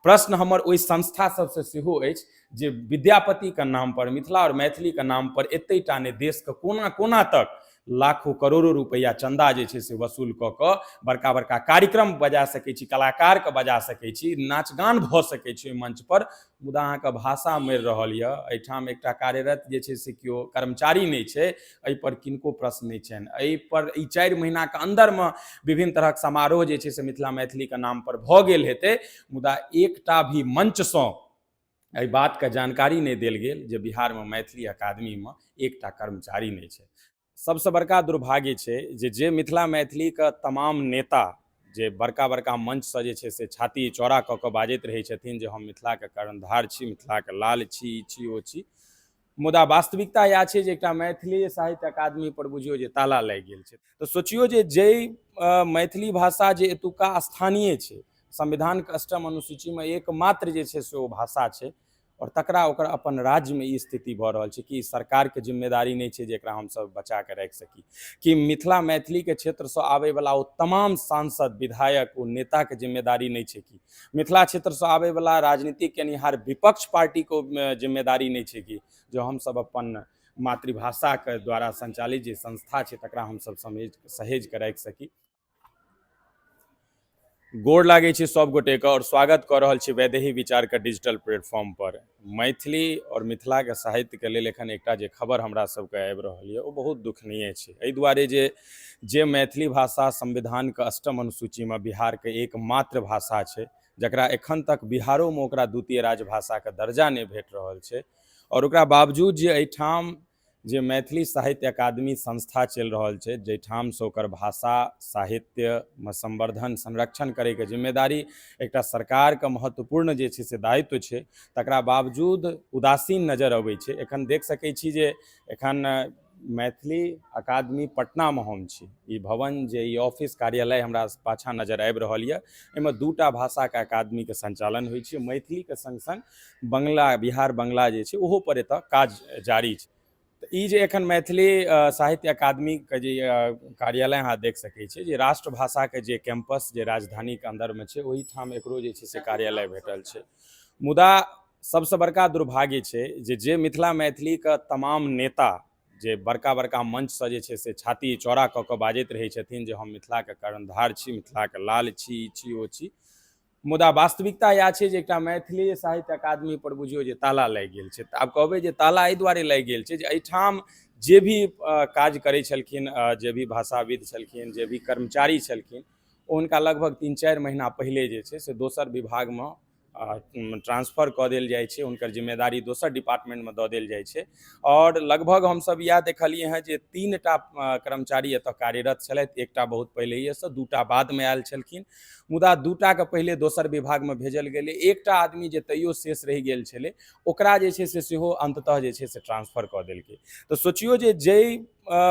प्रश्न हमर ओहि संस्था सबसँ सेहो अछि जे विद्यापतिके नामपर मिथिला आओर मैथिलीके नामपर एतेटा ने देशके कोना कोना तक लाखो करोड़ो रुपैआ चन्दा जे छै से वसूल कऽ कऽ बड़का बड़का कार्यक्रम बजा सकै छी कलाकारके बजा सकै छी नाच गान भऽ सकै छै ओहि मञ्चपर मुदा अहाँके भाषा मरि रहल यऽ एहिठाम एकटा कार्यरत जे छै से केओ कर्मचारी नहि छै एहिपर किनको प्रश्न नहि छनि एहिपर ई चारि महीनाके अन्दरमे विभिन्न तरहक समारोह जे छै से मिथिला मैथिलीके नामपर भऽ गेल हेतै मुदा एकटा भी मञ्चसँ एहि बातके जानकारी नहि देल गेल जे बिहारमे मैथिली अकादमीमे एकटा कर्मचारी नहि छै सबसँ बड़का दुर्भाग्य छै जे जे मिथिला मैथिलीके तमाम नेता जे बड़का बड़का मञ्चसँ जे छै से छाती चौड़ा कऽ कऽ बाजैत रहै छथिन जे हम मिथिलाके कर्णधार छी मिथिलाके लाल छी ई छी ओ छी मुदा वास्तविकता इएह छै जे एकटा मैथिली साहित्य अकादमी पर बुझियौ जे ताला लागि गेल छै तऽ सोचियौ जे जइ मैथिली भाषा जे एतुका स्थानीय छै संविधानके अष्टम अनुसूचीमे एकमात्र जे छै से ओ भाषा छै आओर तकरा ओकर अपन राज्यमे ई स्थिति भऽ रहल छै कि सरकारके जिम्मेदारी नहि छै जे एकरा हमसभ बचा कऽ राखि सकी कि मिथिला मैथिलीके क्षेत्रसँ आबयवला ओ तमाम सांसद विधायक ओ नेताके जिम्मेदारी नहि छै कि मिथिला क्षेत्रसँ आबैवला राजनीति केनिहार विपक्ष पार्टीको जिम्मेदारी नहि छै कि जो हमसभ अपन मातृभाषाके द्वारा सञ्चालित जे संस्था छै तकरा हमसभ समेज सहेज कऽ राखि सकी गोड़ लागै छै सभ गोटेके आओर स्वागत कऽ रहल छी वैदेही विचारके डिजिटल प्लेटफॉर्मपर मैथिली आओर मिथिलाके साहित्यके लेल एखन एकटा जे खबर हमरा सबके आबि रहल यऽ ओ बहुत दुखनीय छै एहि दुआरे जे जे मैथिली भाषा संविधानके अष्टम अनुसूचीमे बिहारके एकमात्र भाषा छै जकरा एखन तक बिहारोमे ओकरा द्वितीय राजभाषाके दर्जा नहि भेट रहल छै आओर ओकरा बावजूद जे एहिठाम जे मैथिली साहित्य अकादमी संस्था चलि रहल छै जाहिठामसँ ओकर भाषा साहित्यमे संवर्धन संरक्षण करैके जिम्मेदारी एकटा सरकारके महत्वपूर्ण जे छै से दायित्व छै तकरा बावजूद उदासीन नजर अबै छै एखन देख सकै छी जे एखन मैथिली अकादमी पटनामे हम छी ई भवन जे ई ऑफिस कार्यालय हमरा पाछाँ नजर आबि रहल यऽ एहिमे दूटा भाषाके अकादमीके संचालन होइ छै मैथिलीके सङ्ग सङ्ग बंगला बिहार बंगला जे छै ओहो पर एतऽ काज जारी छै तऽ ई जे एखन मैथिली साहित्य अकादमीके जे कार्यालय अहाँ देख सकै छियै जे राष्ट्रभाषाके जे कैंपस जे राजधानीके अन्दरमे छै ओहिठाम एकरो जे छै से कार्यालय भेटल छै मुदा सबसँ बड़का दुर्भाग्य छै जे जे मिथिला मैथिलीके तमाम नेता जे बड़का बड़का मंचसँ जे छै से छाती चौड़ा कऽ कऽ बाजैत रहै छथिन जे हम मिथिलाके कर्णधार छी मिथिलाके लाल छी ई छी ओ छी मुदा वास्तविकता इएह छै जे एकटा मैथिली साहित्य अकादमी पर बुझियौ जे ताला लागि गेल छै तऽ आब कहबै जे ताला एहि दुआरे लागि गेल छै जे एहिठाम जे भी काज करै छलखिन जे भी भाषाविद छलखिन जे भी कर्मचारी छलखिन ओ हुनका लगभग तीन चारि महीना पहिले जे छै से दोसर विभागमे ट्रांसफर कऽ देल जाइ छै हुनकर जिम्मेदारी दोसर डिपार्टमेंटमे दऽ देल जाइ छै आओर लगभग हमसभ इएह देखलियै हँ जे तीन टा कर्मचारी एतय कार्यरत छलथि एकटा बहुत पहिलहिएसँ दू टा बादमे आयल छलखिन मुदा दूटाके पहिले दोसर विभागमे भेजल गेलै एकटा आदमी जे तैयो शेष रहि गेल छलै ओकरा जे छै से सेहो अन्ततः जे छै से ट्रान्सफर कऽ देलकै तऽ सोचियौ जे जइ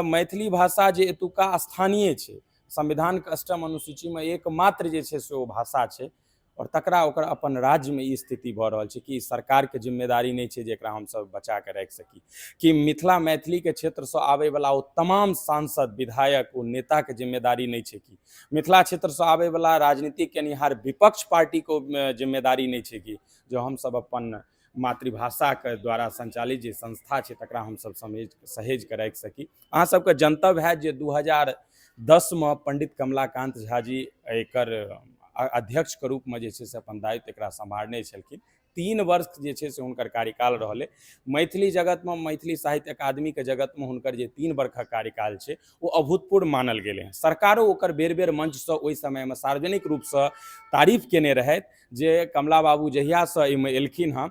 मैथिली भाषा जे एतुका स्थानीय छै संविधानके अष्टम अनुसूचीमे एकमात्र जे छै से ओ भाषा छै आओर तकरा ओकर अपन राज्यमे ई स्थिति भऽ रहल छै कि सरकारके जिम्मेदारी नहि छै जे एकरा हमसभ बचा कऽ राखि सकी कि मिथिला मैथिलीके क्षेत्रसँ आबयवला ओ तमाम सांसद विधायक ओ नेताके जिम्मेदारी नहि छै कि मिथिला क्षेत्रसँ आबैवला राजनीति केनिहार विपक्ष पार्टीको जिम्मेदारी नहि छै कि जो हमसभ अपन मातृभाषाके द्वारा सञ्चालित जे संस्था छै तकरा हमसभ समेज सहेज कऽ राखि सकी अहाँसभके जनतव्य हैत जे दू हजार दसमे पण्डित कमलाकान्त झा जी एकर अध्यक्षके रूपमे जे छै से अपन दायित्व एकरा सम्हारने छलखिन तीन वर्ष जे छै से हुनकर कार्यकाल रहलै मैथिली जगतमे मैथिली साहित्य अकादमीके जगतमे हुनकर जे तीन वर्षक कार्यकाल छै ओ अभूतपूर्व मानल गेलै हँ सरकारो ओकर बेर बेर मंचसँ ओहि समयमे सार्वजनिक रूपसँ तारीफ केने रहथि जे कमला बाबू जहियासँ एहिमे एलखिन हँ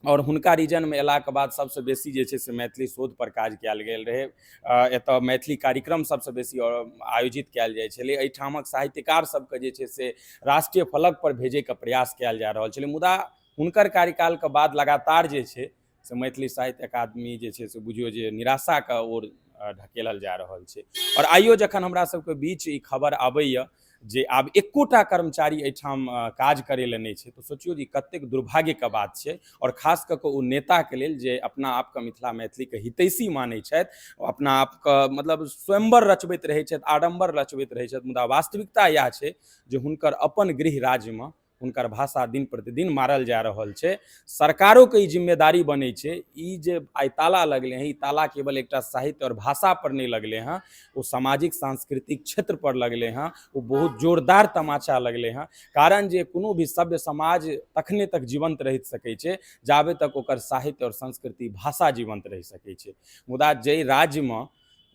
आओर हुनका रीजनमे अयलाके बाद सभसँ बेसी जे छै से मैथिली शोधपर काज कयल गेल रहै एतय मैथिली कार्यक्रम सबसँ बेसी आयोजित कयल जाइ छलै एहिठामक साहित्यकार सबके जे छै से राष्ट्रीय फलक पर भेजैके प्रयास कयल जा रहल छलै मुदा हुनकर कार्यकालके बाद लगातार जे छै से मैथिली साहित्य अकादमी जे छै से बुझियो जे निराशाके ओर ढकेलल जा रहल छै आओर आइयो जखन हमरा सबके बीच ई खबर आबैए जे आब एकोटा कर्मचारी एहिठाम काज करै लए नहि छै तऽ सोचियौ जे कतेक दुर्भाग्यके बात छै आओर खास कऽ कऽ ओ नेताके लेल जे अपना आपके मिथिला मैथिलीके हितैषी मानै छथि अपना आपके मतलब स्वयंवर रचबैत रहै छथि आडम्बर रचबैत रहै छथि मुदा वास्तविकता इएह छै जे हुनकर अपन गृह राज्यमे हुनकर भाषा दिन प्रतिदिन मारल जा रहल छै सरकारोके ई जिम्मेदारी बनै छै ई जे आइ ताला लगलै हँ ई ताला केवल एकटा साहित्य आओर भाषापर नहि लगलै हँ ओ सामाजिक सांस्कृतिक क्षेत्रपर लगलै हँ ओ बहुत जोरदार तमाचा लगलै हँ कारण जे कोनो भी सभ्य समाज तखने तक जीवंत रहि सकै छै जाबे तक ओकर साहित्य आओर संस्कृति भाषा जीवंत रहि सकै छै मुदा जाहि राज्यमे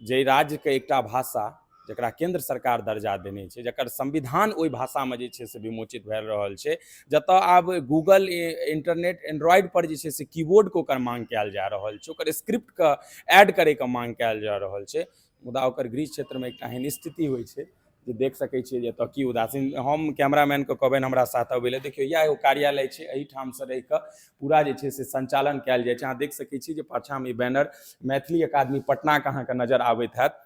जाहि राज्यके एकटा भाषा जकरा केन्द्र सरकार दर्जा देने छै जकर संविधान ओहि भाषामे जे छै से विमोचित भए रहल छै जतऽ आब गूगल इंटरनेट एंड्रॉयड पर जे छै से कीबोर्डके ओकर मांग कयल जा रहल छै ओकर स्क्रिप्टके ऐड करैके मांग कयल जा रहल छै मुदा ओकर गृह क्षेत्रमे एकटा एहन स्थिति होइ छै जे देख सकै छियै जे एतऽ की उदासीन हम कैमरामैनके कहबनि हमरा साथ अबै लए देखियौ इएह एगो कार्यालय छै एहिठामसँ रहि कऽ पूरा जे छै से सञ्चालन कयल जाइ छै अहाँ देख सकै छी जे पाछाँमे ई बैनर मैथिली अकादमी पटनाके अहाँके नजर आबैत हैत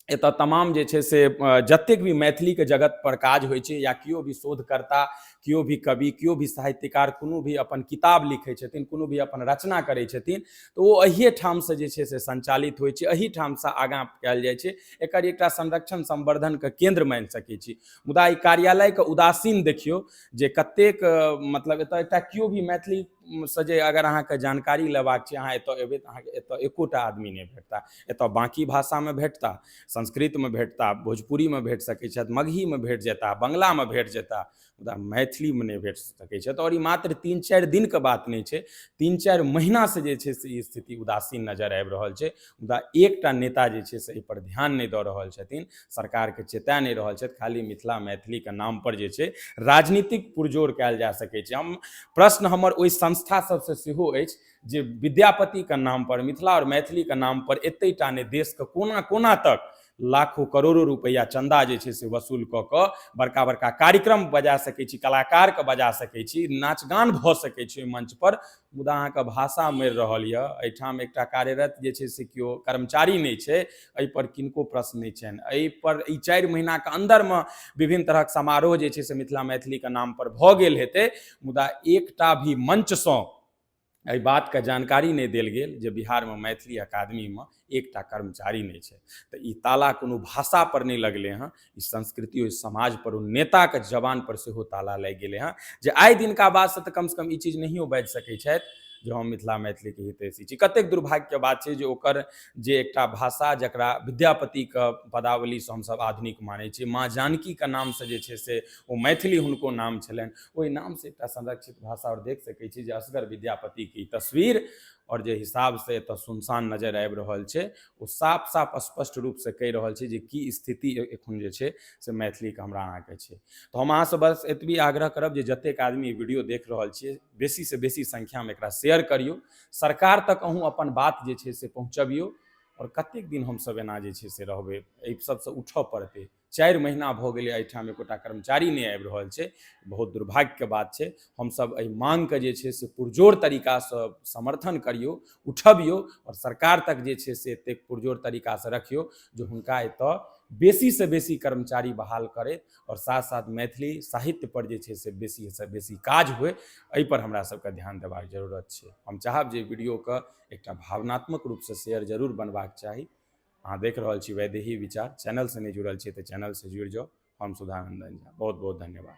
एतऽ तमाम जे छै से जतेक भी मैथिलीके जगत पर काज होइ छै या केओ भी शोधकर्ता केओ भी कवि केओ भी साहित्यकार कोनो भी अपन किताब लिखै छथिन कोनो भी अपन रचना करै छथिन तऽ ओ अहिए ठामसँ जे छै से सञ्चालित होइ छै एहि ठामसँ आगाँ कयल जाइ छै एकर एकटा संरक्षण संवर्धनके केन्द्र मानि सकै छी मुदा ई कार्यालयके उदासीन देखियौ जे कतेक मतलब एतऽ एकटा केओ भी मैथिली से जे अगर अहाँके जानकारी लेबाक छै अहाँ एतऽ एबै तऽ अहाँके एतऽ एकोटा आदमी नहि भेटता एतऽ बाँकी भाषामे भेटता संस्कृतमे भेटता भोजपुरीमे भेट सकै छथि मगहीमे भेट जेता बंगलामे भेट जेता मुदा मैथिलीमे नहि भेट सकै छथि आओर ई मात्र तीन चारि दिनके बात नहि छै तीन चारि महिनासँ जे छै से ई स्थिति उदासीन नजर आबि रहल छै मुदा एकटा नेता जे छै से एहिपर ध्यान नहि दऽ रहल छथिन सरकारके चेता नहि रहल छथि खाली मिथिला मैथिलीके नामपर जे छै राजनीतिक पुरजोर कयल जा सकै छै हम प्रश्न हमर ओहि संस्था सभसँ सेहो अछि जे विद्यापतिके नामपर मिथिला आओर मैथिलीके नामपर एतेटा नहि देशके कोना कोना तक लाखों करोड़ो रुपैआ चन्दा जे छै से वसूल कऽ कऽ बड़का बड़का कार्यक्रम बजा सकै छी कलाकारके बजा सकै छी नाच गान भऽ सकै छै ओहि मञ्चपर मुदा अहाँके भाषा मरि रहल यऽ एहिठाम एकटा कार्यरत जे छै से केओ कर्मचारी नहि छै एहिपर किनको प्रश्न नहि छनि एहिपर ई चारि महीनाके अन्दरमे विभिन्न तरहक समारोह जे छै से मिथिला मैथिलीके नामपर भऽ गेल हेतै मुदा एकटा भी मञ्चसँ एहि बातके जानकारी नहि देल गेल जे बिहारमे मैथिली अकादमीमे एकटा कर्मचारी नहि छै तऽ ई ताला कोनो भाषापर नहि लगलै हँ ई संस्कृति ओहि समाजपर ओ नेताके जवानपर सेहो ताला लागि गेलै हँ जे आइ दिनका बादसँ तऽ कमसँ कम ई चीज नहियो बाजि सकै छथि जे हम मिथिला मैथिलीके हितैषी छी कतेक दुर्भाग्यके बात छै जे ओकर जे एकटा भाषा जकरा विद्यापतिके पदावलीसँ हमसभ आधुनिक मानै छी माँ जानकीके नामसँ जे छै से ओ मैथिली हुनको नाम छलनि ओहि नामसँ एकटा संरक्षित भाषा आओर देख सकै छी जे असगर विद्यापतिके ई तस्वीर आओर जे हिसाबसँ एतऽ सुनसान नजर आबि रहल छै ओ साफ साफ स्पष्ट रूपसँ कहि रहल छै जे की स्थिति एखन जे छै से मैथिलीके हमरा अहाँके छै तऽ हम अहाँसँ बस एतबी आग्रह करब जे जतेक आदमी वीडियो देख रहल छियै बेसीसँ बेसी संख्यामे एकरा शेयर करियौ सरकार तक अहूँ अपन बात जे छै से पहुँचबियौ आओर कतेक दिन हमसभ एना जे छै से रहबै एहि सभसँ उठऽ पड़तै चारि महीना भऽ गेलै एहिठाम एकोटा कर्मचारी नहि आबि रहल छै बहुत दुर्भाग्यके बात छै हमसभ एहि माङ्गके जे छै से पुरजोर तरीकासँ समर्थन करियौ उठबियौ आओर सरकार तक जे छै से एतेक पुरजोर तरीकासँ रखियौ जे हुनका एतय बेसीसँ बेसी कर्मचारी बहाल करथि आओर साथ साथ मैथिली साहित्यपर जे छै से बेसीसँ बेसी काज हुए एहिपर हमरा सभके ध्यान देबाक जरूरत छै हम चाहब जे वीडियोके एकटा भावनात्मक रूपसँ शेयर जरूर बनबाक चाही अहाँ देख रहल छी वैदेही विचार चैनलसँ नहि जुड़ल छी तऽ चैनलसँ जुड़ि जाउ हम सुधानन्दन झा बहुत बहुत धन्यवाद